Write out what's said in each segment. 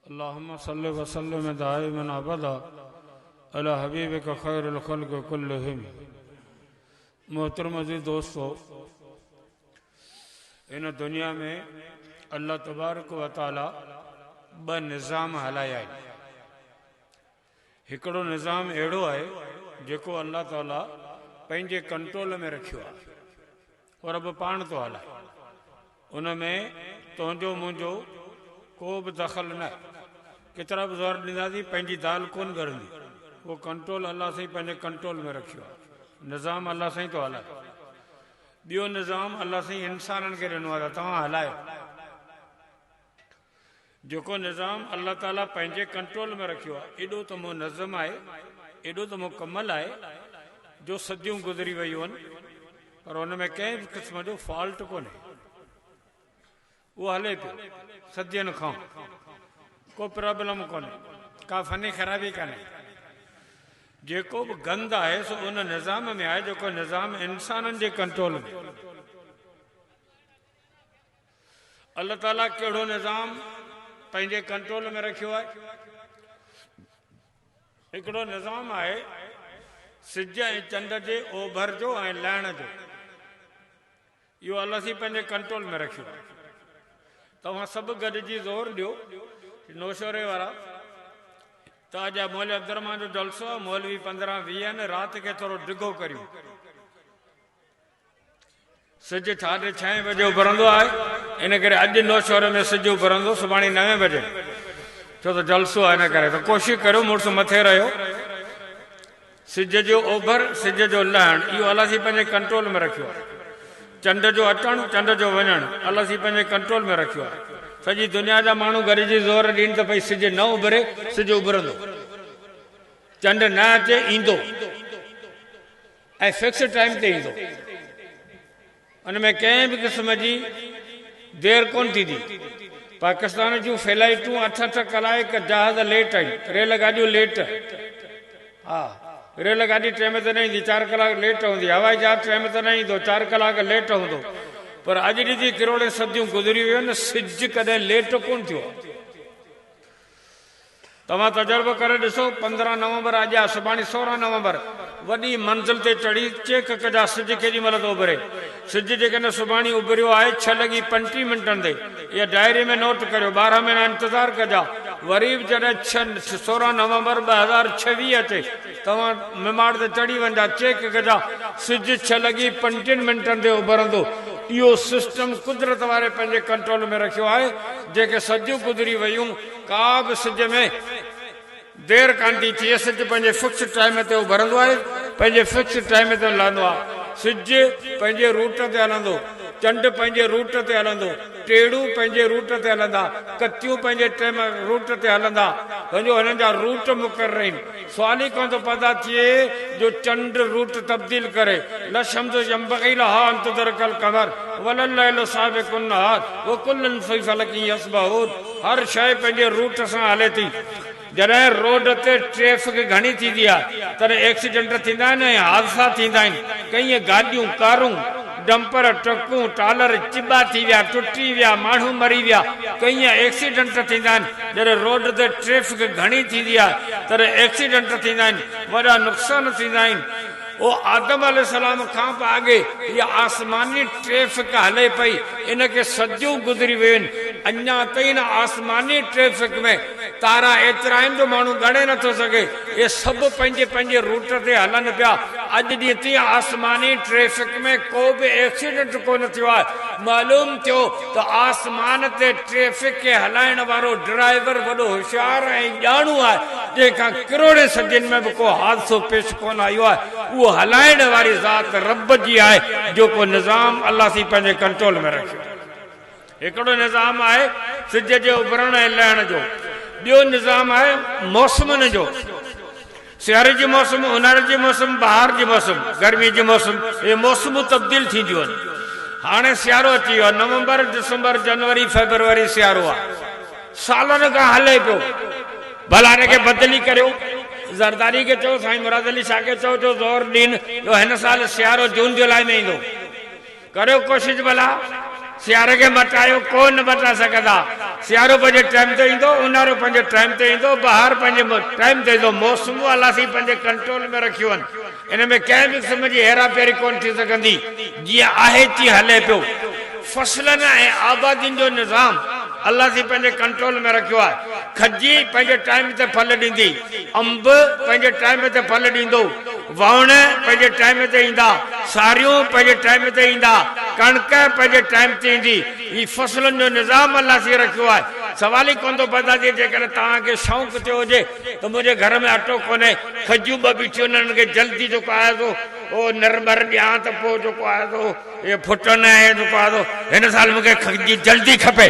اللهم صل وسلم دائما ابدا علی حبیبک خیر الخلق کلہم محترم عزيز دوستو هن دنيا ۾ الله تبارڪ وتعالي ٻه نظام هلايا آهن هڪڙو نظام اهڙو آهي جيڪو الله تعاليٰ پنهنجي ڪنٽرول ۾ رکيو آهي او رب پاڻ ٿو هلائي ان ۾ تنهنجو منهنجو ڪو به دخل نه ڪيترا به زور ڏينداسين پنهنجي دال ڪون ڳرندي اهو ڪنٽرول الله سائين پنهنجي ڪنٽرول ۾ رکيو آهي نظام الله سائين ٿو هلائي ٻيو نظام الله سائين انسانن کي ڏنو آهي ته توهان هلايو جيڪو نظام الله تعاليٰ پنهنجي ڪنٽرول ۾ رکيو آهي، ايڏو ته منظم آهي، ايڏو ته مڪمل آهي، جو صديون گذري ويون پر ان ۾ ڪنهن به قسم جو فالٽ ڪونهي. اهو هلي پيو صدين کان، ڪو پرابلم ڪونهي، ڪا فني خرابي ڪانهي. جيڪو به گند آهي سو ان نظام ۾ آهي، جيڪو نظام انسانن جي ڪنٽرول ۾. الله تعاليٰ ڪهڙو نظام پنهنجي ڪنٽرول ۾ رکيو آهي؟ هڪڙو نظام آهي سج ۽ چنڊ جي اوڀر جو ۽ لهڻ جو. اهو الله سين پنهنجي ڪنٽرول ۾ رکيو آهي. توهان سڀ گڏجي زور ڏيو نوشهري وارا ته اڄ مولوي عبدالرحمان جو جلسو آهي مولوي پندرهن ويهن رات کي ٿورو ڊگهو ڪريون. سج ساڍي ڇهين بجي اڀرندو آهي، ان ڪري اڄ نوشهري ۾ سج اڀرندو سڀاڻي نوين بجي ڇو ته جلسو آهي ان ڪري ته ڪوشش ڪريو مڙس مٿي رهيو سج جو اوڀر سج جو لهڻ اهو الله سائين پنهنجي ڪنٽرول ۾ رکيو آهي چنڊ جو اچڻ چنڊ جو وڃڻ الله سائين پنهنجي ڪنٽرول ۾ رکيو آهي سڄي دنيا جا ماڻهو گڏجي زور ڏين ته ڀئي سج نه اڀري سج اڀرندو چنڊ نه اچي ايندو. ۽ فڪسڊ ٽائيم تي ايندو ان ۾ ڪنهن به قسم جي دير ڪونه ٿيندي پاڪستان جون فلائيٽون اٺ اٺ ڪلائڪ جهاز ليٽ ۽ ريل گاڏيون ليٽ ها ريل گاڏي ٽيم تي نه ايندي چار ڪلاڪ ليٽ هوندي هوائي جهاز ٽيم تي نه ايندو چار ڪلاڪ ليٽ هوندو پر اڄ ڏجي ڪروڙين صديون گذري ويون سج ڪڏهن ليٽ ڪونه ٿيو آهي. توهان تجربو ڪري ڏسو، پندرهن نومبر اڄ آ، سڀاڻي سورهن نومبر، وڏي منزل تي چڙهي چيڪ ڪجان سج ڪيڏي مهل ٿو اڀري. سج جيڪڏهن سڀاڻي اڀريو آهي ڇهه لڳي پنجٽيهه منٽن تي، اها ڊائري ۾ نوٽ ڪريو، ٻارهن مهينا انتظار ڪجان، وري به جڏهن ڇهه، سورهن نومبر ٻه هزار ڇويهه اچي، توهان مماٽ تي چڙهي وڃجان، چيڪ ڪجان سج ڇهه لڳي پنجٽيهن منٽن تي اڀرندو. اهو سسٽم قدرت واري پنهنجي ڪنٽرول ۾ رکيو آهي، جيڪي صديون گذري ويون، ڪا به سج ۾ دير ڪانه ٿي ٿئي، سج پنهنجي فڪسڊ ٽائيم تي اڀرندو آهي، پنهنجي فڪسڊ ٽائيم تي لهندو آهي، سج پنهنجي روٽ تي هلندو، چنڊ پنهنجي روٽ تي هلندو، ٽيڙون پنهنجي روٽ تي هلندا، ڪتيون پنهنجي ٽيم روٽ تي هلندا، سمجهو هنن جا روٽ مقرر آهن. سوال ئي ڪونه ٿو پيدا ٿئي جو چنڊ روٽ تبديل ڪري، لا الشمس ينبغي لها ان تدرک القمر ولا الليل سابق النهار وڪل في فلک يسبحون هر شيء پنهنجي روٽ سان هلي ٿي، جڏهن روڊ تي ٽريفڪ گهڻي ٿيندي آهي تڏهن ايڪسيڊنٽ ٿيندا آهن ۽ حادثا ٿيندا آهن، ڪئين گاڏيون، ڪارون. ڊمپر ٽرڪون ٽالر چٻا ٿي ويا ٽٽي ويا ماڻهو مري ويا ڪئين ايڪسيڊنٽ ٿيندا آهن جڏهن روڊ تي ٽريفڪ گهڻي ٿيندي آهي تڏهن ايڪسيڊنٽ ٿيندا آهن وڏا نقصان ٿيندا آهن او آدم عليه السلام کان به آڳي اها آسماني ٽريفڪ هلي پئي ان کي صديون گذري ويون آهن اڃا تائين ان آسماني ٽريفڪ ۾ تارا ايترا آهن جو ماڻهو ڳڻي نه ٿو سگهي. اهي سڀ پنهنجي پنهنجي روٽ تي هلن پيا. اڄ ڏينهن تائين آسماني ٽريفڪ ۾ ڪو به ايڪسيڊنٽ ڪونه ٿيو آهي. معلوم ٿيو ته آسمان تي ٽريفڪ کي هلائڻ وارو ڊرائيور وڏو هوشيار ۽ ڄاڻو آهي، جنهن کان ڪروڙين صدين ۾ به ڪو حادثو پيش ڪونه آيو آهي. اهو هلائڻ واري ذات رب جي آهي، جيڪو نظام الله سائين پنهنجي ڪنٽرول ۾ رکيو آهي. هڪڙو نظام آهي سج جي اڀرڻ ۽ لهڻ جو، ٻيو نظام آهي موسمن جو، سياري جي موسم، اونهاري جي موسم، بهار جي موسم، گرمي جي موسم، اهي موسمون تبديل ٿينديون آهن. هاڻي سيارو اچي ويو آهي، نومبر، ڊسمبر، جنوري، فيبروري سيارو آهي، سالن کان هلي پيو، ڀلا ان کي بدلي ڪريو، زرداري کي چئو، سائين مراد علي شاهه کي چئو جو زور ڏين جو هن سال سيارو جون جولاء ۾ ايندو. ڪريو ڪوشش ڀلا سياري کي مٽايو ڪو نه مٽا سگهندا سيارو پنهنجي ٽائيم تي ايندو اونهارو پنهنجي ٽائيم تي ايندو بهار پنهنجي ٽائيم تي ايندو موسمون الله سائين پنهنجي ڪنٽرول ۾ رکيون اهن ان ۾ ڪنهن به قسم جي هيرا ڦيري ڪونه ٿي سگهندي جيئن آهي تيئن هلي پيو فصلن ۽ آبادين جو نظام الله سائين پنهنجي ڪنٽرول ۾ رکيو آهي کجي پنهنجي ٽائيم تي ڦل ڏيندي انب پنهنجي ٽائيم تي ڦل ڏيندو وهڻ پنهنجي ٽائيم تي ايندا، ساريون پنهنجي ٽائيم تي ايندا، ڪڻڪ پنهنجي ٽائيم تي ايندي، هي فصلن جو نظام الله سين رکيو آهي، سوال ئي ڪونه ٿو پيدا ٿئي جيڪڏهن توهان کي شونق ٿيو هجي ته منهنجي گهر ۾ اٽو ڪونهي، کجيون ٻه بيٺيون آهن انهن کي جلدي جيڪو آهي سو نرمر ڏيان ته پوء جيڪو آهي سو. اهو ڦٽو نه آهي جو پاڙو هن سال مون کي کجي جلدي کپي.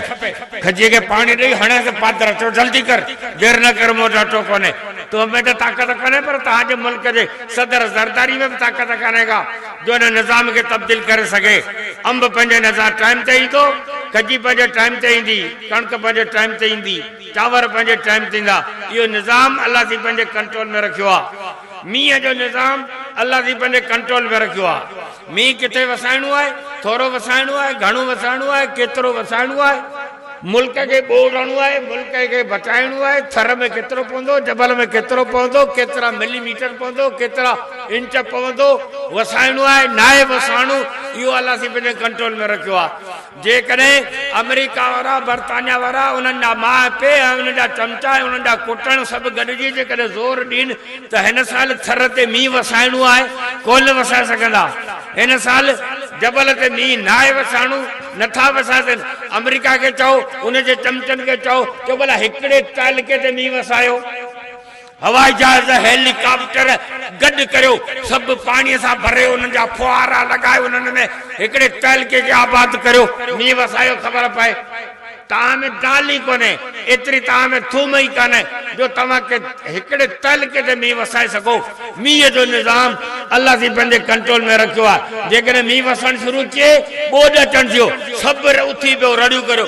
کجي کي پاڻي ڏئي هڻيس ته پادرا چيو جلدي ڪر، دير نه ڪر مون وٽ اٽو ڪونهي. تو ۾ ته طاقت ڪونهي پر توهان جي ملڪ جي صدر زرداري ۾ به طاقت ڪانهي ڪا جو هن نظام کي تبديل ڪري سگهي. انب پنهنجي نظام ٽائيم تي ايندو، کجي پنهنجي ٽائيم تي ايندي، ڪڻڪ پنهنجي ٽائيم تي ايندي، چانور پنهنجي ٽائيم تي ايندا. اهو نظام الله سائين پنهنجي ڪنٽرول ۾ رکيو آهي. مينهن جو نظام الله سائين پنهنجي ڪنٽرول ۾ رکيو آهي. مينهن ڪٿي وسائڻو آهي، ٿورو وسائڻو آهي، گهڻو وسائڻو آهي، ڪيترو وسائڻو آهي، ملڪ کي ٻوڙ هڻڻو آهي، ملڪ کي بچائڻو آهي، ٿر ۾ ڪيترو پوندو، جبل ۾ ڪيترو پوندو، ڪيترا ملي ميٽر پوندو، ڪيترا انچ پوندو، وسائڻو آهي، ناهي وسائڻو، اهو الله سائين پنهنجي ڪنٽرول ۾ رکيو آهي. جيڪڏهن آمريڪا وارا، برطانيا وارا، انهن جا ماء پي ۽ انهن جا چمچا ۽ انهن جا ڪٽڻ سڀ گڏجي جيڪڏهن زور ڏين ته هن سال ٿر تي مينهن وسائڻو آهي، ڪونه وسائي سگهندا. هن سال جبل تي مينهن ناهي وسائڻو، نٿا وسائي سگهن. آمريڪا کي چئو، ان جي چمچن کي چئو، چئو ڀلا هڪڙي تعلقي تي مينهن وسايو. هوائي جهاز، هيلي ڪاپٽر گڏ ڪريو، سڀ پاڻيء سان ڀري انهن جا ڦوهارا لڳائي انهن ۾ هڪڙي تعلقي کي آباد ڪريو. مينهن وسايو کبر پئي. تاء ۾ دال ئي ڪونهي، ايتري تاء ۾ ٿوم ئي ڪانهي جو توهان کي هڪڙي تعلقي تي مينهن وسائي سگهو. مينهن جو نظام الله سائين پنهنجي ڪنٽرول ۾ رکيو آهي. جيڪڏهن مينهن وسڻ شروع ٿئي، ٻوڏ اچڻ ٿيو، سڀ اٿي بيهو، رڙيون ڪريو.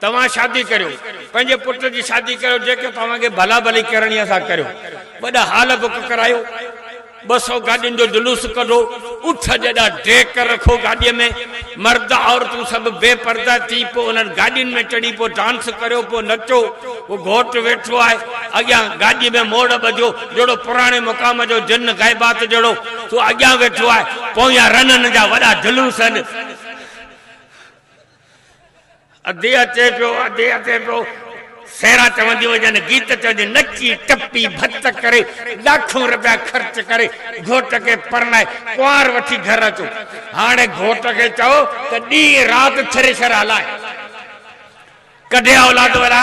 توهان شادي ڪريو، پنهنجي پٽ جي شادي ڪريو، جيڪي توهان کي ڀلا ڀلي ڪرڻي آهي سا ڪريو. وڏا هال بڪ ڪرايو، ٻه سؤ گاڏين جو جلوس ڪڍو، اٺ جيڏا ڊيڪ رکو گاڏيء ۾، مرد عورتون سڀ بي پرده ٿي پوء انهن گاڏين ۾ چڙهي پوء ڊانس ڪريو، پوء نچو، پوء گهوٽ ويٺو آهي اڳيان گاڏيء ۾ موڙ ٻڌيو، جهڙو پراڻي مقام جو جن غيبات جهڙو، سو اڳيان ويٺو آهي، پويان رنن جا وڏا جلوس هن. ادي اچي پيو، ادي اچي پيو. سيرا چونديون هجن، گيت چونديون، نچي ٽپي ڀت ڪري، لاکون رپيا خرچ ڪري، گهوٽ کي پرڻائي، ڪنوار وٺي گهر اچو. هاڻي گهوٽ کي چئو ته ڏينهن رات ٿريشر هلائي. ڪڍي اولاد وڏا.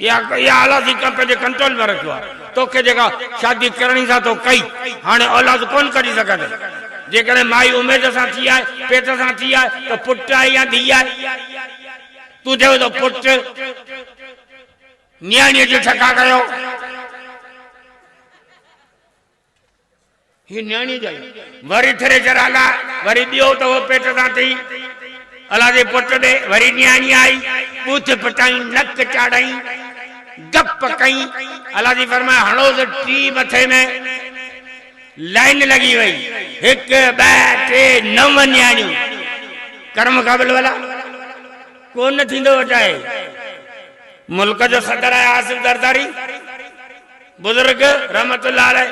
اها اولاد ئي ڪنهن پنهنجي ڪنٽرول ۾ رکيو آهي. توکي جيڪا شادي ڪرڻي سا تو ڪئي. هاڻي اولاد ڪونه ڪڍي سگهندين. جيڪڏهن مائي اميد سان ٿي آهي، پيٽ سان ٿي آهي ته پٽ آهي يا ڌيء آهي. تون چوين ٿو پٽ نياڻيء جي ٺڪا ڪيو. هي نياڻيء جا ئي. وري ٿريشر آلا، وري ٻيو ته هو پيٽ سان ٿي. الا جي پٽ ڏي وري نياڻي آئي، ٻوٿ پٽائين، نڪ چاڙهيائين، گپ ڪئين. الا جي فرمايو، هڻوس ٽي مٿي ۾. لائين لڳي وئي، هڪ، ٻه، ٽي، نو نياڻيون. ڪرم کان بل ولا ڪونه ٿيندو وٽائي. ملڪ جو صدر آهي آصف زرداري. بزرگ رحمت الله عليه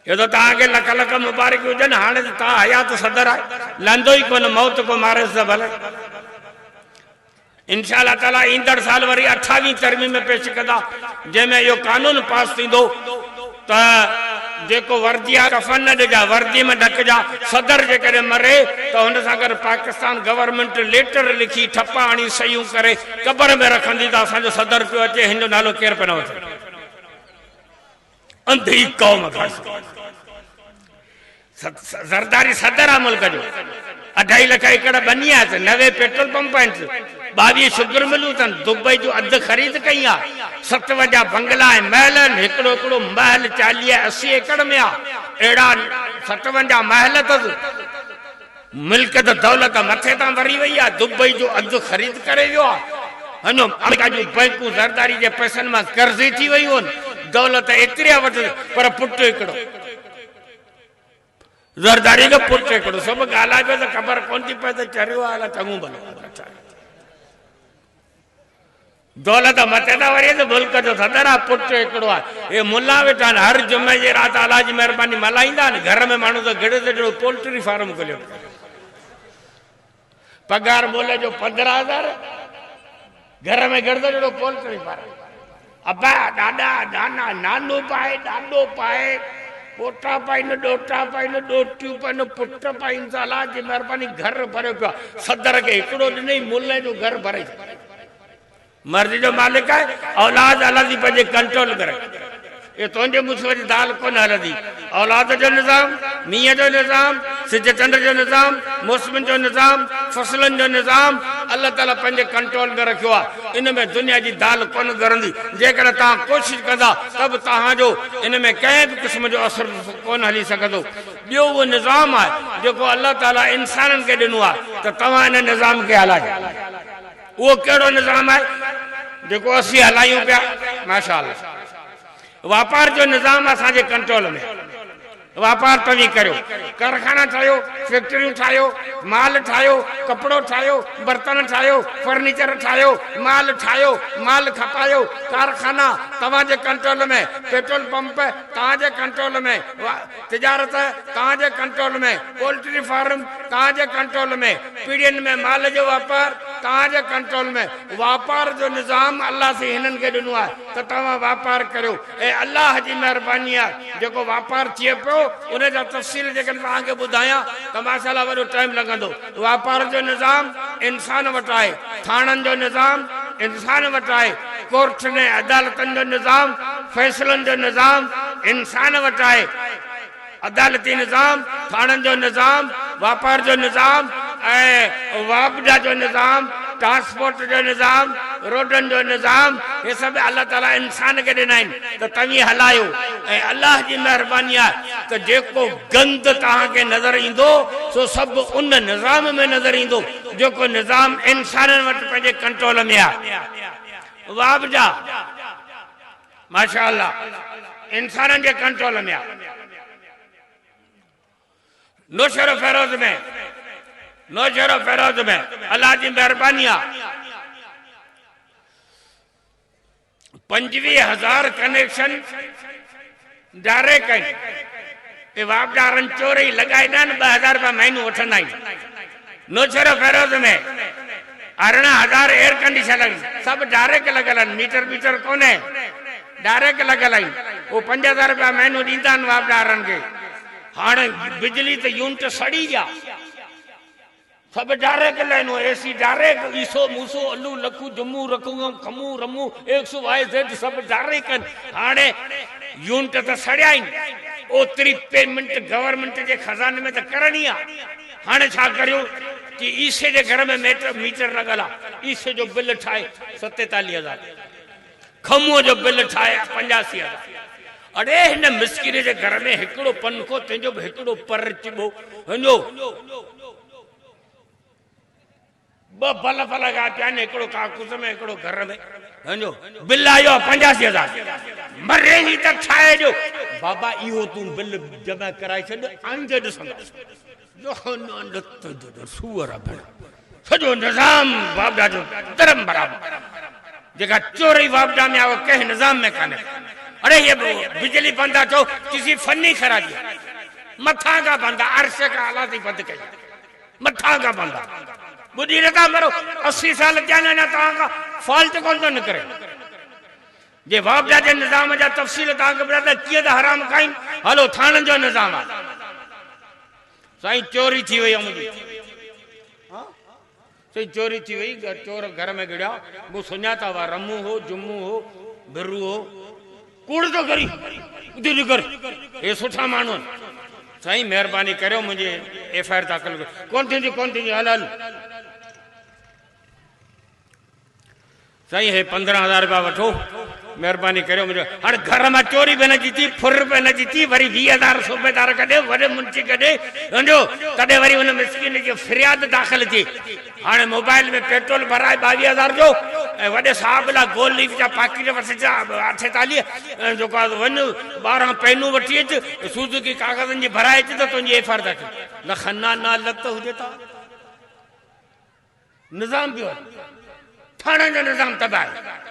چيو ته توهان کي لک لک مبارڪيون هجن هاڻي ته توهان حيات صدر آهي لهندو ئي ڪونه موت ڪو ماريس ته ڀلي انشاء الله تعالي ايندڙ سال وري اٺاويهين ترميم پيش ڪندا جنهن ۾ اهو قانون پاس ٿيندو ته جيڪو وردي آهي ڪفن نه ڏجا وردي ۾ ڍڪجا صدر جيڪڏهن مري ته هن سان گڏ پاڪستان گورنمينٽ ليٽر لکي ٺپا هڻي صحيحون ڪري قبر ۾ رکندي ته اسان جو صدر پيو اچي هن جو نالو ڪير پيو نه وٺي انڌي قوم کڻ زرداري صدر آ ملڪ جو اڍائي لک ايڪڙ بني آ نوي پيٽرول پمپ آهن ٻاويهه شگر ملون اٿن دبئي جو اڌ خريد ڪئي آ ستوجا بنگلا ۽ محل آهن هڪڙو هڪڙو محل چاليهه اسي ايڪڙ ۾ آ اهڙا ستوجا محل اٿس ملڪ ته دولت مٿي تان وري وئي آ، دبئي جو اڌ خريد ڪري ويو آ، اڃ آمريڪا جون بئنڪون زرداري جي پئسن مان قرضي ٿي ويون آھن، دولت ته ايتري آ وٽ پر پٽ ھڪڙو، زرداري جو پٽ ھڪڙو، سو به ڳالھائبو ته خبر ڪون ٿي پئي ته چريو آ الا چڱو ڀلو آ. دولت مٿي ته وري ته ملڪ جو صدر آ پٽ هڪڙو آ هي ملا ويٺا آهن هر جمعي جي رات الله جي مهرباني ملهائيندا آهن گهر ۾ ماڻهو ته گهڙي ته جهڙو پولٽري فارم کوليو پيو آهي پگهار مول جو پندرهن هزار گهر ۾ گهڙ ته جهڙو پولٽري فارم ابا ڏاڏا نانا نانو پائي ڏاڏو پائي پوٽا پائين ڏوٽا پائين ڏوٽيون پائين پٽ پائين الله جي مهرباني گهر ڀريو پيو آهي صدر کي هڪڙو ڏني ملهه جو گهر ڀري مرضي جو مالڪ آهي اولاد الادي پنهنجي ڪنٽرول ۾ رک اهي تنهنجي مصيبت جي دال ڪونه هلندي اولاد جو نظام مينهن جو نظام سج چنڊ جو نظام موسمن جو نظام فصلن جو نظام الله تعالي پنهنجي ڪنٽرول ۾ رکيو آهي ان ۾ دنيا جي دال ڪونه ڳرندي جيڪڏهن توهان ڪوشش ڪندا ته به توهان جو ان ۾ ڪنهن به قسم جو اثر ڪونه هلي سگهندو ٻيو اهو نظام آهي جيڪو الله تعالي انسانن کي ڏنو آهي ته توهان ان نظام کي هلايو. اهو ڪهڙو نظام آهي جيڪو اسين هلايون پيا ماشاء الله واپار جو نظام اسان جي ڪنٽرول ۾ واپار توهين ڪريو ڪارخانا ٺاهيو فيڪٽريون ٺاهيو مال ٺاهيو ڪپڙو ٺاهيو برتن ٺاهيو فرنيچر ٺاهيو مال ٺاهيو مال کپايو ڪارخانا توهان جي ڪنٽرول ۾ پيٽرول پمپ توهان جي ڪنٽرول ۾ تجارت توهان جي ڪنٽرول ۾، پولٽري فارم توهان جي ڪنٽرول ۾، پيڙهين ۾ مال جو واپار توهان جي ڪنٽرول ۾، واپار جو نظام الله سين هنن کي ڏنو آهي ته توهان واپار ڪريو ۽ الله جي مهرباني آهي جيڪو واپار ٿئي پيو ان جا تفصيل جيڪڏهن توهان کي ٻڌايان ته ماشاءالله وڏو ٽائيم لڳندو. واپار جو نظام انسان وٽ آهي، ٿاڻن جو نظام انسان وٽ آهي، ڪورٽن ۽ عدالتن جو نظام، فيصلن جو نظام انسان وٽ آهي. عدالتي نظام، ٿاڻن جو نظام، واپار جو نظام ۽ واپڊا جو نظام، ٽرانسپورٽ جو نظام، روڊن جو نظام هي سڀ الله تعاليٰ انسان کي ڏنا آهن ته توهين هلايو ۽ الله جي مهرباني آهي ته جيڪو گند توهان کي نظر ايندو، سو سڀ ان نظام ۾ نظر ايندو، جيڪو نظام انسانن وٽ پنهنجي ڪنٽرول ۾ آهي. واهه بجا! ماشاء الله! انسانن جي ڪنٽرول ۾ آهي. نوشهروفيروز ۾ نوشهروفيروز ۾ الله جي مهرباني آهي. پنجويهه هزار ڪنيڪشن جاري ڪئي ۽ واپڊارن چورئي لڳائي ڏهن ٻه هزار رپيا مهينو وٺندا آهن. نوشهروفيروز ۾ ارڙهن هزار ايئر ڪنڊيشن آهن سڀ ڊائريڪٽ لڳل آهن ميٽر بيٽر ڪونهي ڊائريڪٽ لڳل آهن هو پنج هزار رپيا مهينو ڏيندا آهن واپڊارن کي هاڻ بجلي ته يونٽ سڙي ويا. سڀ ڊاريڪ لائنون، اي سي ڊاريڪ، عيسو، موسو، الو، لکو، جمو، رکو، کمو، رمو، ايڪس، وائي، زيڊ سڀ ڊاريڪ آهن. هاڻي يونٽ ته سڙيا آهن، اوتري پيمنٽ گورنمينٽ جي خزاني ۾ ته ڪرڻي آ. هاڻي ڇا ڪريون ڪي عيسي جي گهر ۾ ميٽر ميٽر لڳل آ، عيسي جو بل ٺاهي ستيتاليهه هزار. کمون جو بل ٺاهي پنجاسي هزار اڙي هن مسڪين جي گهر ۾ هڪڙو پنکو تنهنجو به هڪڙو پر چٻو هنجو ٻه بلف لڳا پيا آهن هڪڙو ڪاڪوس ۾ هڪڙو گهر ۾ هنجو بل آيو آهي پنجاسي هزار مري هي ته ٺاهي ڏيو بابا اهو تون بل جمع ڪرائي ڇڏ آئنده ڏسنداسين سوئر ڀڻ سڄو نظام واپڊا جو درم برابر جيڪا چوري واپڊا ۾ آ اهو ڪنهن نظام ۾ ڪانهي اڙي هي بجلي بند آ چئو چيسي فني خرابي آ مٿان کان بند آ عرش کان اعليٰ تائين بند ڪئي مٿان کان بند آ ٻڏي نه ٿا مرو اسي سال ٿيا آهن اڃا توهان کان فالٽ ڪونه ٿو نڪري. جي واپڊا جي نظام جا تفصيل توهان کي ٻڌاتا ڪيئن ته حرام کائين هلو ٿاڻن جو نظام آ سائين چوري ٿي وئي امن جي سائين چوري ٿي وئي چور گهر ۾ گڙيا مون سڃاتا وا رمو هو جمو هو برو هو ڪوڙ تو ڪري ادي نڪر اي سٺا ماڻو سائين مهرباني ڪريو منجي ايف آر داخل ڪون ٿيندي ڪون ٿيندي هل هل سائين هي پندرهن هزار رپيا وٺو مهرباني ڪريو منهنجو هاڻي گهر مان چوري به نه جي ٿي ڦر به نه جي ٿي وري ويهه هزار صوبيدار کان ڏي وڏي منشي کي ڏي ونجو تڏهن وري ان مسڪين جي فرياد داخل ٿئي هاڻي موبائل ۾ پيٽرول ڀرائي ٻاويهه هزار جو ۽ وڏي صاحب لاء گول ليف جا پاڪيٽ وٺ جا اٺيتاليهه ۽ جيڪو آهي ونج ٻارهن پينون وٺي اچ سوزوڪي ڪاغذن جي ڀرائي اچ ته تنهنجي ايف آر ٿا ڪيون لکن نا نا لت هجي ٿا نظام جو ٿاڻن جو نظام تباہ آهي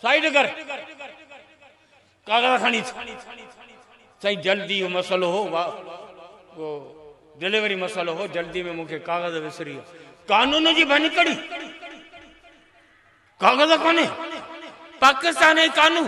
سائيڊ ڪر ڪاغذ کڻي سائين جلدي جو مسئلو هو ڊليوري مسئلو هو جلدي ۾ مونکي ڪاغذ وسري قانون جي ڀڃڪڙي ڪاغذ کاني پاڪستان جي قانون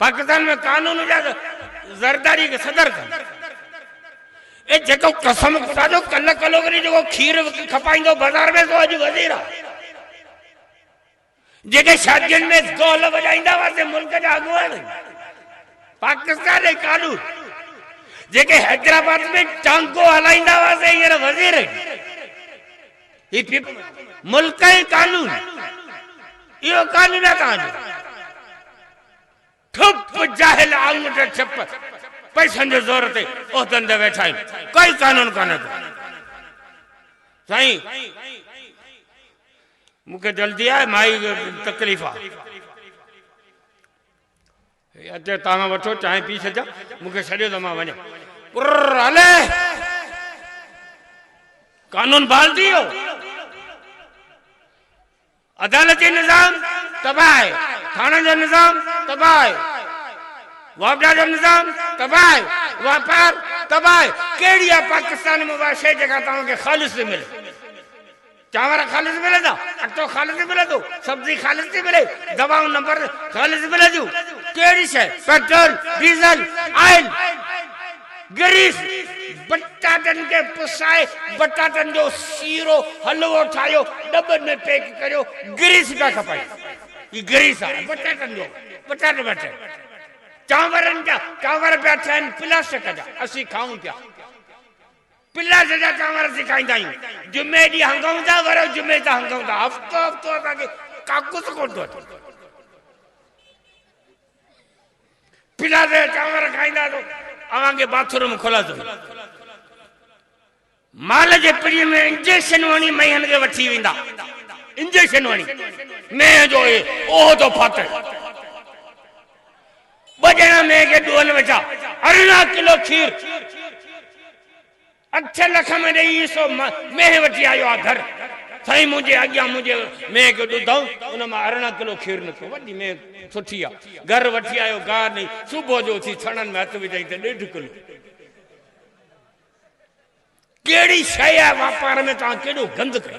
پاڪستان ۾ قانون جا زرداري کي صدر ڪن. اي جيڪو قسم خدا جو ڪل ڪلو ڪري جيڪو کير کپائيندو بازار ۾ سو اڄ وزير آ. جيڪي شادين ۾ ڍول وڄائيندا هئا سي ملڪ جا اڳواڻ آهن. پاڪستان ۽ قانون جيڪي حيدرآباد ۾ ٽانگو هلائيندا هئا سي هينئر وزير آهن. هي پ پ ملڪ ۽ قانون اهو قانون آ توهان جو ٺپ جاهل آڱوٺ ڇپ پئسن جي زور تي عهدن تي ويٺا آهيون ڪوئي قانون ڪانه ٿو سائين مونکي جلدي آهي مائي تڪليف آ. هي اچي تان وٺو چانهه پي ڇڏجان مون کي ڇڏيو ته مان وڃان. ڪرر هلي قانون بحال ٿي ويو عدالتي نظام تباهه آهي ٿاڻن جو نظام تباهه آهي واپڊا جو نظام تباهه آهي واپار تباهه آهي ڪهڙي آهي پاڪستان ۾ اها شيء جيڪا توهان کي خالص ٿي ملي. چانور خالص ملندا، اٽو خالص ملندو، سبزي خالص ٿي ملي، دوائون نمبر خالص ملنديون، ڪهڙي شيء پيٽرول، ڊيزل، آئل، گريس، بٽاٽن کي پسائي بٽاٽن جو سيرو، حلوو، ٺاهيو، ڏٻن ۾ پيڪ ڪريو، گريس پيا کپائي، هي گريس آهي بٽاٽن جو، بٽاٽ پيا ٺهن، چانورن جا چانور پيا ٺهن پلاسٽڪ جا، اسين کائون پيا. پلاٽ جا چانور اسين کائيندا آهيون. جمعي ڏينهن هنگون ٿا، ورهه جمعي تان هنگون ٿا. هفتو هفتو اسان کي ڪاڪوس ڪونه ٿو اچي. پلاٽ جا چانور کائيندا تو اوهان کي باٿ روم کلاسو ملي. مال جي پري ۾ انجيڪشنون هڻي مينهن کي وٺي ويندا. انجيڪشنون هڻي مينهن جو اهو تو ڦاٿو. ٻه ڄڻا مينهن کي ڏوهن وجها، ارڙهن ڪلو کير اٺ لک ۾ ڏئي عيسو مينهن وٺي آيو آ گهر، سائين منهنجي اڳيان منهنجي مينهن کي ڏڌائون، ان مان ارڙهن ڪلو کير نڪتو، وڏي مينهن سٺي آ، گهر وٺي آيو گاهه ڏئي، صبح جو اٿي ٿڻن ۾ هٿ وجهائين ته ڏيڍ ڪلو. ڪهڙي شيء آ واپار ۾ توهان ڪيڏو گند ڪيو.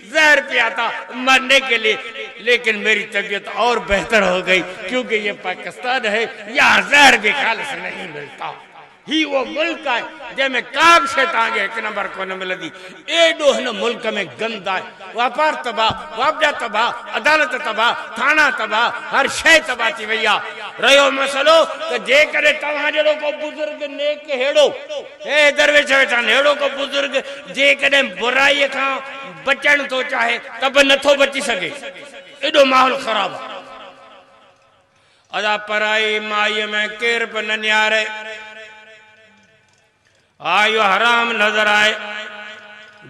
زهر پيا تھا مرني ڪي لئي ليڪن ميري طبيعت اور بهتر هو گئي ڪيونڪه يه پاڪستان هي يهان زهر به خالص نهين ملتا هي اهو ملڪ آهي جنهن ۾ ڪا به شي توهان کي هڪ نمبر ڪونه ملندي ايڏو هن ملڪ ۾ گند آهي واپار تباهه واپڊا تباهه عدالت تباهه ٿاڻا تباهه هر شي تباهه ٿي وئي آهي رهيو مسئلو ته جيڪڏهن توهان جهڙو ڪو بزرگ نيڪ ههڙو. اي درويش ويٺان! ههڙو ڪو بزرگ جيڪڏهن برائيء کان بچڻ ٿو چاهي ته به نٿو بچي سگهي. ايڏو ماحول خراب آهي. ادا پرائي مائيء ۾ ڪير به نه نهاري. ها اهو حرام نظر آهي.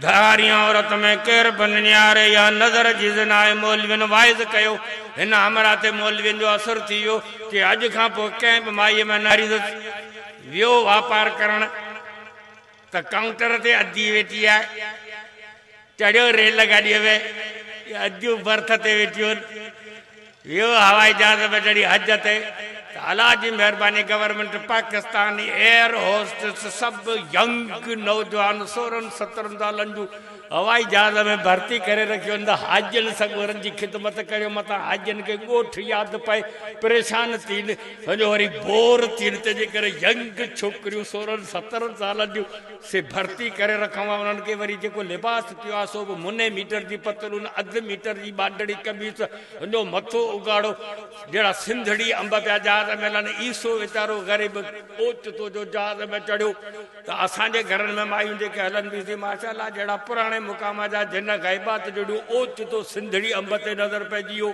ڌارين عورت ۾ ڪير به ننياري يا نظر جي زنا آهي مولوين واعظ ڪيو هن همراهه تي مولوين جو اثر ٿي ويو ڪي اڄ کان پوء ڪنهن به مائي ۾ نه ريزت ويو واپار ڪرڻ ته ڪائونٽر تي ادي ويٺي آهي چڙهيو ريل گاڏي ۾ اديون برٿ تي ويٺيون آهن ويو هوائي جهاز ۾ چڙهي حج تي ته الله جي مهرباني گورنمينٽ پاڪستاني ايئر هوسٽس سڀ ينگ نوجوان سورهن سترهن سالن جون هوائي جهاز ۾ ڀرتي ڪري رکيون ته حاجين سڳورن جي خدمت ڪريو متان حاجين کي ڳوٺ ياد پئي پريشان ٿين سڄو وري بور ٿين تنهنجي ڪري ينگ ڇوڪريون سورهن سترهن سالن جون سي ڀرتي ڪري رکون ها انهن کي وري جيڪو لباس پيو آهي سو به مني ميٽر جي پتلون اڌ ميٽر جي ٻانڊڙي قميص ھنجو مٿو اگھاڙو جھڙا سنڌڙي انب پيا جھاز ۾ لھن عيسو ويچارو غريب اوچتو جو جھاز ۾ چڙھيو ته اسان جي گھرن ۾ مايون جيڪي ھلن بي سي ماشا الله جھڙا پراڻي مقام جا جن غيبات جھڙيون اوچتو سنڌڙي انب تي نظر پئجي ويو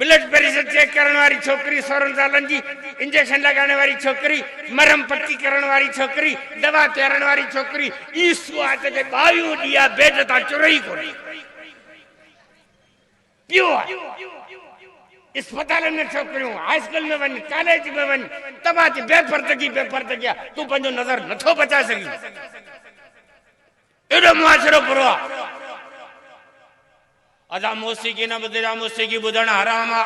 بلڊ پريشر چيڪ ڪرڻ واري ڇوڪري، سورهن سالن جي، انجيڪشن لڳائڻ واري ڇوڪري، مرهم پٽي ڪرڻ واري ڇوڪري، دوا پيارڻ واري ڇوڪري، اهي سو آهن جيڪي ٻاهيون ڏيئا بيڊ تان چري ئي ڪونه پيو آهي. اسپتالن ۾ ڇوڪريون، هاء اسڪول ۾ وڃ، ڪاليج ۾ وڃ، توهان تي بي پردگي بي پردگي آهي، تون پنهنجو نظر نٿو بچائي سگهين. ايڏو معاشرو برو آ اسان موسيقي نه ٻڌيسان موسيقي ٻڌڻ حرام آ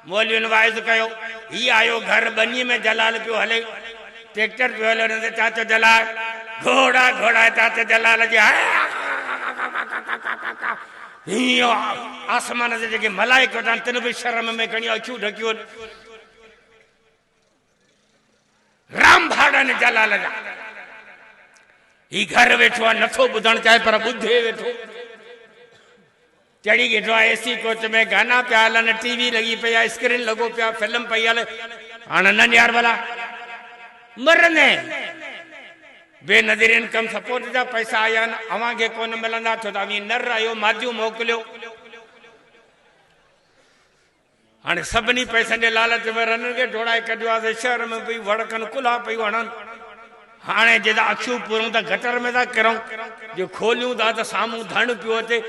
مولوين واعظ ڪيو هي آيو گهر ٻني ۾ جلال پيو هلي ٽيڪٽر پيو هلي ان تي چاچو جلال گهوڙا گهوڙا چاچو جلال جي هيو آسمان جي جيڪي ملائڪ وٽان تن به شرم ۾ کڻي اکيون ڍڪيون رام ڀاڙا ني جلال جا هي گهر ويٺو آ نٿو ٻڌڻ چاهي پر ٻڌي ويٺو چڙي گيٺو آ اي سي ڪوچ ۾ گانا پيا هلن ٽي وي لڳي پئي آ اسڪرين لڳو پيا فلم پئي هلي هاڻ نن يار ڀلا مرني بي نظرين ڪم سپورٽ جا پئسا آيا آهن اوهان کي ڪون ملندا ٿو ته اوهين نر آهيو ماديون موڪليو هاڻي سڀني پئسن جي لالچ ۾ رنن کي ڊوڙائي ڪڍيو آهي سي شهر ۾ پئي وڙڪن ڪلها پئي وڻن. هاڻي جي ته اکيون پورون ته گٽر ۾ ٿا ڪرون. جي کوليون ٿا ته سامهون ڌڻ پيو اچي.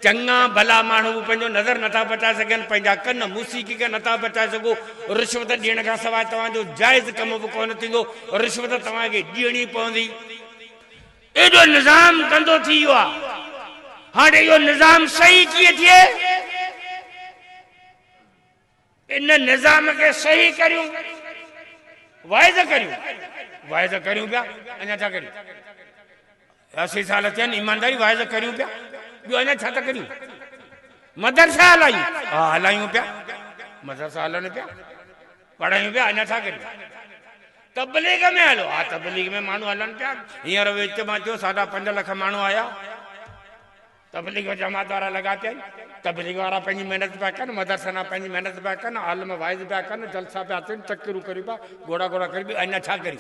چڱا ڀلا ماڻهو به پنهنجو نظر نٿا بچائي سگهن، پنهنجا ڪن موسيقي کان نٿا بچائي سگهو. رشوت ڏيڻ کان سواء توهان جو جائز ڪم به ڪونه ٿيندو. رشوت توهان کي ڏيڻي پوندي. ايڏو نظام گندو ٿي ويو آ هاڻ اهو نظام صحيح ڪيئن ٿئي ان نظام کي صحيح ڪريون واعظ ڪريون واعظ ڪريون پيا اڃا ڇا ڪريون اسي سال ٿين ايمانداري واعظ ڪريون پيا ٻيو اڃا ڇا ٿا ڪريون مدرسا هلايون ها هلايون پيا مدرسا هلن پيا پڙهيون پيا اڃا ڇا ڪريون تبليغ ۾ هلو ها تبليغ ۾ ماڻهو هلن پيا هينئر وچ مان ٿيو ساڍا پنج لک ماڻهو آيا تبليغ جماعت وارا لڳا پيا تبليغ وارا پنهنجي محنت پيا ڪن مدرسن وارا پنهنجي محنت پيا ڪن عالم واعظ پيا ڪن جلسا پيا ٿين چڪرون ڪريون پيا گهوڙا گهوڙا ڪريون پيا اڃا ڇا ڪريون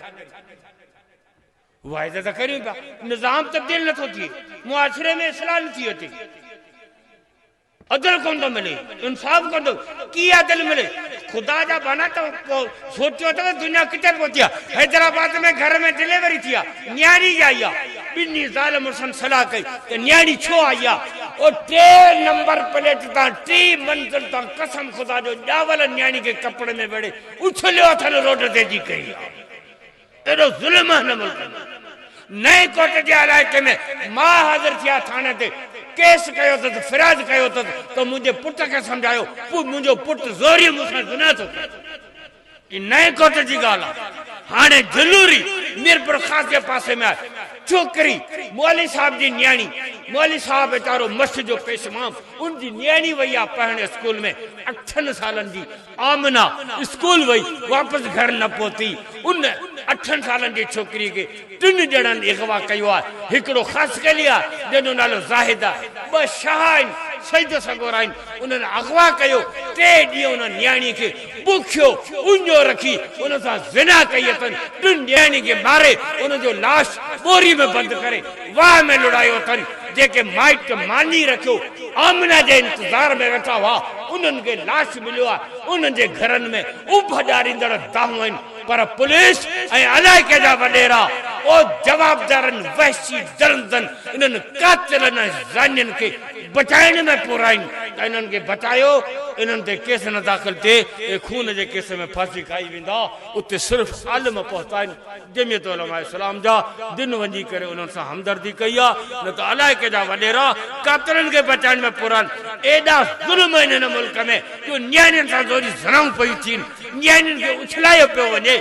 واعظ ته ڪريون پيا نظام تبديل نٿو ٿئي معاشري ۾ اصلاح نٿي اچي عدل ڪونه ٿو ملي، انصاف ڪونه ٿو، ڪيئن عدل ملي؟ خدا جا ٻانها تو سوچيو اٿئو دنيا ڪٿي پهتي آ؟ حيدرآباد ۾ گهر ۾ ڊليوري ٿي آ، نياڻي ڄائي آ، ٻنهي زال مڙسن صلاح ڪئي ته نياڻي ڇو آئي آ؟ او ٽي نمبر پليٽ تان ٽي منزل تان قسم خدا جو ڄاول نياڻي کي ڪپڙن ۾ ويڙهي اڇليو اٿن روڊ تي جي ڪئي آ، اهڙو ظلم آ هن ملڪ ۾. نئين ڪوٽ جي علائقي ۾ ماء حاضر ٿي آ ٿاڻي تي ڪيس ڪيو اٿس فرياد ڪيو اٿس ته منهنجي پٽ کي سمجهايو پوء منهنجو پٽ زوريء مون سان زنا ٿو ڪري هي نئين ڪوٽ جي ڳالهه آ هاڻي جلوري ميرپور خاص جي پاسي ۾ آ ڇوڪري مولوي صاحب جي نياڻي مولوي صاحب ويچارو مس جو پيش مام ان جي نياڻي وئي آ پڙهڻ اسڪول ۾ اٺن سالن جي آمنه اسڪول وئي واپس گهر نه پهتي. ان اٺن سالن جي ڇوڪريء کي ٽن ڄڻن اغوا ڪيو آهي. هڪڙو خاصخيلي آهي، جنهن جو نالو زاهد آهي. ٻه شاهه آهن، سيد سڳورا آهن. انهن اغوا ڪيو. ٽي ڏينهن ان نياڻيء کي بکيو اڃو رکي ان سان زنا ڪئي اٿن. ٽن ڄڻن کي ماري ان جو لاش ٻوري ۾ بند ڪري واهه ۾ لڙايو اٿن، جيڪي مائٽ ماني رکيو آمنه جي انتظار ۾ ويٺا هئا، انهن کي لاش مليو آهي، انهن جي گهرن ۾ اڀ ڏياريندڙ دانهون آهن، پر پوليس ۽ علائقي جا وڏيرا او جوابدارن وحشي درندن انهن قاتلن ۽ زانين کي بچائڻ ۾ پورا آهن ته انهن کي بچايو، انهن تي ڪيس نه داخل ٿئي، اهي خون جي ڪيس ۾ ڦاسي کائي ويندا، اتي صرف عالم پهتا آهن. جمعيت علماء اسلام جا دن وڃي ڪري انهن سان همدردي ڪئي آ نه ته الائي ڪيڏا وڏيرا ڪاڪرن کي بچائڻ ۾ پورا آهن ايڏا ظلم آهن هن ملڪ ۾ جو نياڻين سان زوري زنائون پيون ٿين نياڻين کي اڇلايو پيو وڃي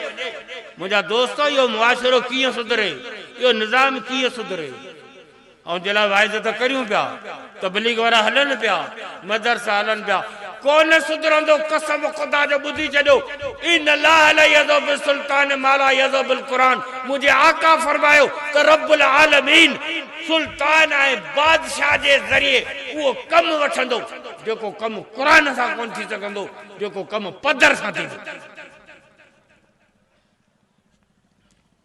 منهنجا دوستو اهو معاشرو ڪيئن سڌري اهو نظام ڪيئن سڌري. ان جي لاء واعدو ته ڪريون پيا، تبليغ وارا هلن پيا، مدرسا هلن پيا، ڪو نه سڌرندو، قسم خدا جو ٻڌي ڇڏيو، ان الله لا يذهب بالسلطان ما لا يذهب بالقرآن، منهنجي آقا فرمايو ته رب العالمين سلطان ۽ بادشاهه جي ذريعي اهو ڪم وٺندو، جيڪو ڪم قرآن سان ڪونه ٿي سگهندو، جيڪو ڪم پدر سان ٿيندو.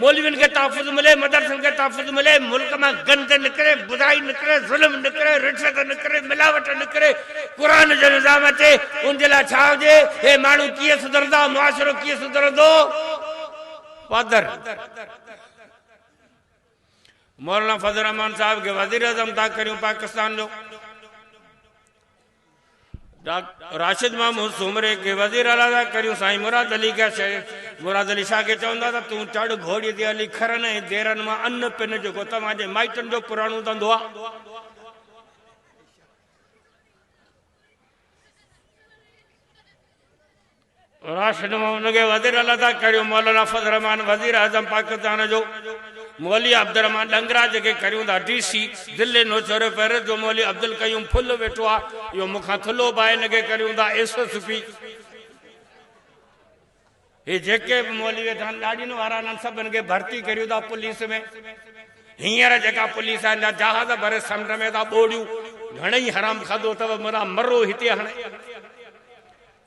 مولوين کي تحفظ ملي، مدرسن کي تحفظ ملي، ملڪ مان گند نڪري، برائي نڪري، ظلم نڪري، رشوت نڪري، ملاوٽ نڪري، قرآن جو نظام اچي، ان جي لاء ڇا هجي؟ هي ماڻهو ڪيئن سڌرندا، معاشرو ڪيئن سڌرندو؟ پادر مولانا فضل الرحمان صاحب کي وزيراعظم تان ڪريون پاڪستان جو. ڊاڪٽر راشد محمود سومري کي وزير اعليٰ ٿا ڪريون، سائين مراد علي کي شاهه مراد علي شاهه کي چوندا ته تون چڙهه گهوڙي تي علي کرن ۽ ديرن مان ان پن جيڪو توهان جي مائٽن جو پراڻو ڌنڌو آهي. راشد محمد کي وزير اعليٰ ادا ڪريو، مولانا فضل الرحمان وزير اعظم پاڪستان جو، مولوي عبدالرحمان ڏنگراج کي ڪريون ٿا ڊي سي، دلي نوشهرو پيرس جو مولوي عبدالقيوم ڦل ويٺو آ، اهو مون کان ٿلهو به آهي، هن کي ڪريون ٿا ايس ايس پي، هي جيڪي به مولوي ويٺا آهن ڏاڙهين وارا انهن سڀن کي ڀرتي ڪريون ٿا پوليس ۾، هينئر جيڪا پوليس آهي اڃا جهاز ڀري سمنڊ ۾ ٿا ٻوڙيون، گهڻي ئي حرام کاڌو اٿئو مرا مرو هتي هڻي.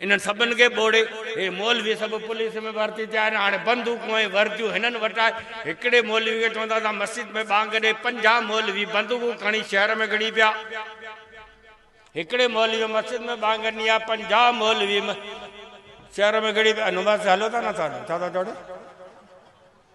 انهن سڀن کي ٻوڙي هي مولوي سڀ پوليس ۾ ڀرتي ٿيا آهن. هاڻي بندوقون ۽ ورديون هنن وٽ آهي. هڪڙي مولوي کي چون ٿا ته مسجد ۾ ٻانگ ڏي. پنجاهه مولوي بندوقون کڻي شهر ۾ گهڙي پيا. هڪڙي مولوي مسجد ۾ ٻانگ ڏني آهي. پنجاهه مولوي شهر ۾ گهڙي پيا. نماز تي هلو ٿا نه ٿا هلو. ڇا ٿا چئو ڙي.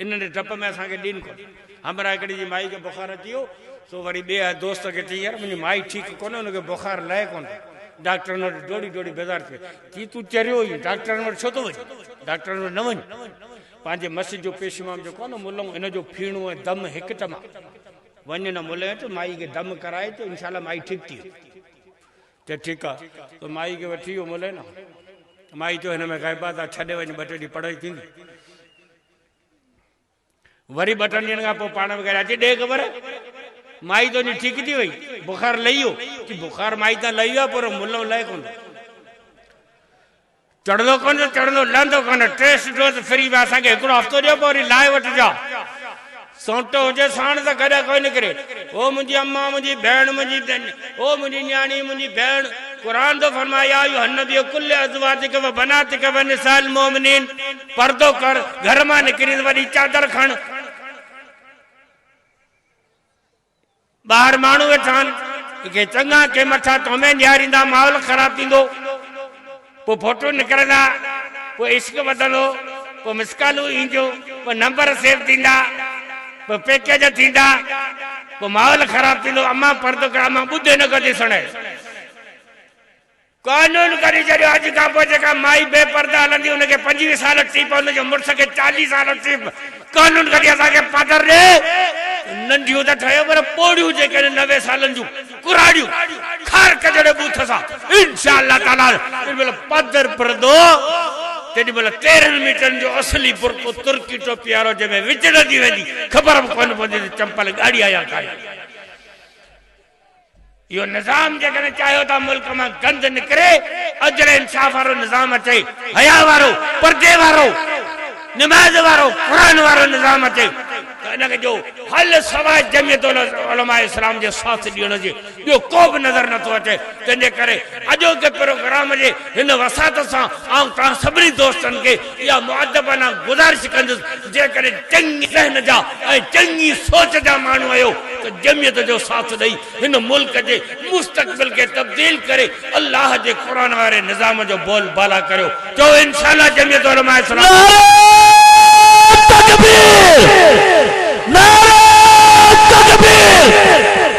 انهن جي ڊپ ۾ اسان کي ڏين ڪونه همراهه هڪڙي جي مائي کي بخار اچي ويو سو وري ٻئي آئي دوست کي چئي يار منهنجي مائي ٺيڪ ڪونه هن کي بخار لهي ڪونه ٿو ڊاڪٽرن وٽ ڊوڙي ڊوڙي بيزار ٿي ويو چي تون چريو اهين ڊاڪٽرن وٽ ڇو ٿو وڃين ڊاڪٽرن وٽ نه وڃ پنهنجي مس جو پيشمام جو ڪونه ملئون ان جو ڦيڻو ۽ دم هڪ ٽما وڃ نه ملئين اچ مائي کي دم ڪرائي اچ انشاء الله مائي ٺيڪ ٿي ويندي چي ٺيڪ آ سو مائي کي وٺي ويو ملئين مائي چيو هن ۾ غيبات آ ڇڏي وڃ ٻه ٽي ڏينهن پڙهائي ٿيندي وري ٻه ٽن ڏينهن کان پوء پاڻ وغيره اچي ڏي خبر مائي تنهنجي ٺيڪ ٿي وئي بخار لهي ويو چي بخار مائي تان لهي ويو آهي پر ملو لهي ڪونه چڙندو ڪونه ته چڙندو لهندو ڪونه ٽيسٽ ڊوز فري ويا اسان کي هڪڙو هفتو ڏيو پوء وري لائي وٺجا سونٽ هجي ساڻ ته ڪڏهن ڪوئي نڪري. او منهنجي امان منهنجي ڀيڻ منهنجي او منهنجي نياڻي منهنجي ڀيڻ قرآن ٿو فرمائي يا ايها النبي قل لازواجک وبناتک ونساء المومنين پردو ڪر گهر مان نڪرين ته وڏي چادر کڻ. ٻاهر ماڻهو ويٺا آهن تو کي چڱا ڪي مٺا تومين ڏياريندا ماحول خراب ٿيندو پو ڦوٽو نڪرندا پو عشق وڌندو پو مسڪالون اينديون پو نمبر سيو ٿيندا پو پيڪيج ٿيندا پو ماحول خراب ٿيندو امان پردو ڪر امان ٻڌ هن کان ڏسڻ قانون ڪري ڇڏيو اڄ کان پوء جيڪا مائي بي پرده هلندي ان کي پنجويهه سال ٽيپ ان جي مڙس کي چاليهه سال ٽيپ قانون ڪري اسان کي پگهر ڏي ننڍيون ته ٺهيو پر پوڙهيون جيڪڏهن نوي سالن جون ڪراڙيون خارڪ جهڙي بوٿ سان انشاء الله تعالي تيڏي مهل پدر پردو تيڏي مهل تيرهن ميٽرن جو اصلي برقعو ترڪي ٽوپي وارو جنهن ۾ وچڙندي ويندي خبر به ڪونه پوندي ته چمپل ڳاڙهي آهي يا ڪاري اهو نظام جيڪڏهن چاهيو ته ملڪ مان گند نڪري، عدل انصاف وارو نظام اچي، حياء وارو، پردي وارو، نماز وارو، قرآن وارو نظام اچي ته ان جو حل سواء جمعيت علماء اسلام جي ساٿ ڏيڻ جي ٻيو ڪو به نظر نٿو اچي، تنهن جي ڪري اڄوڪي پروگرام جي هن وساطت سان آئون توهان سڀني دوستن کي اها مؤدبانه گذارش ڪندس جيڪڏهن چڱي ذهن جا ۽ چڱي سوچ جا ماڻهو آهيو ته جمعيت جو ساٿ ڏئي هن ملڪ جي مستقبل کي تبديل ڪري الله جي قرآن واري نظام جو بول بالا ڪريو چئو انشاء الله جمعيت علماء اسلام. نعره تڪبير! نعره تڪبير!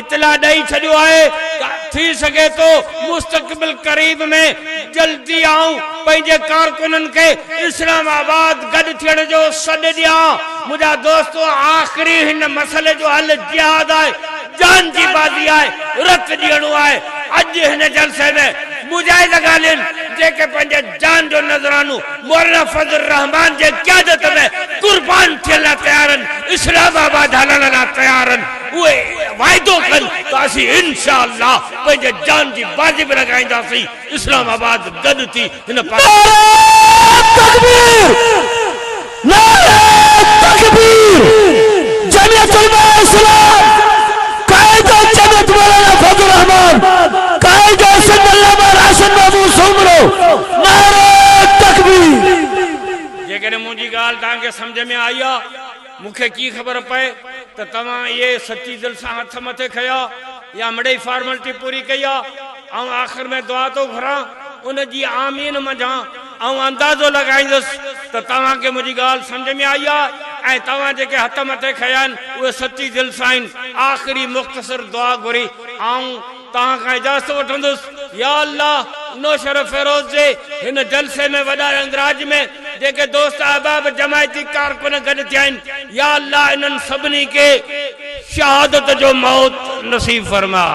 اطلاع ڏئي ڇڏيو آهي ته ٿي سگهي ٿو مستقبل قريب ۾ جلدي آئون پنهنجي ڪارڪنن کي اسلام آباد گڏ ٿيڻ جو سڏ ڏيان. منهنجا دوستو آخري هن مسئلي جو حل جهاد آهي، جان جي بازي آهي، رت ڏيڻو آهي. اڄ هن جلسي ۾ مجاهد اڳاڙين جيڪي پنهنجي جان جو نذرانو مولانا فضل الرحمان جي قيادت ۾ قربان ٿيڻ لاء تيار آهن، اسلام آباد هلڻ لاء تيار آهن، اهي واعدو ڪن ته اسين انشاء الله پنهنجي جان جي بازي به لڳائينداسين، اسلام آباد گڏ ٿي هن پاڪستان جي. نعره تڪبير. نعري تڪبير، جمعيت علماء اسلام، قائد جمعيت مولانا فضل الرحمان، قائد سنڌ علامه راشد محمود سومرو، نعري تڪبير. جيڪڏهن منهنجي ڳالهه توهان کي سمجهه ۾ آئي آ، مون کي ڪي خبر پئي ته توهان اهي سچي دل سان هٿ مٿي کنيا يا مڙئي فارملٽي پوري ڪئي آ. آئون آخر ۾ دعا ٿو گهران، ان جي آمين منجهان آئون اندازو لڳائيندس ته توهان کي منهنجي ڳالهه سمجهه ۾ آئي آهي ۽ توهان جيڪي هٿ مٿي کنيا آهن اهي سچي دل سان آهن. آخري مختصر دعا گهري آئون توهان کان اجازت وٺندس. يا الله! نوشهروفيروز جي هن جلسي ۾ وڏا رنگراج ۾ جيڪي دوست احباب جماعتي ڪارڪن گڏ ٿيا آهن، يا الله انهن سڀني کي شهادت جو موت نصيب فرماء.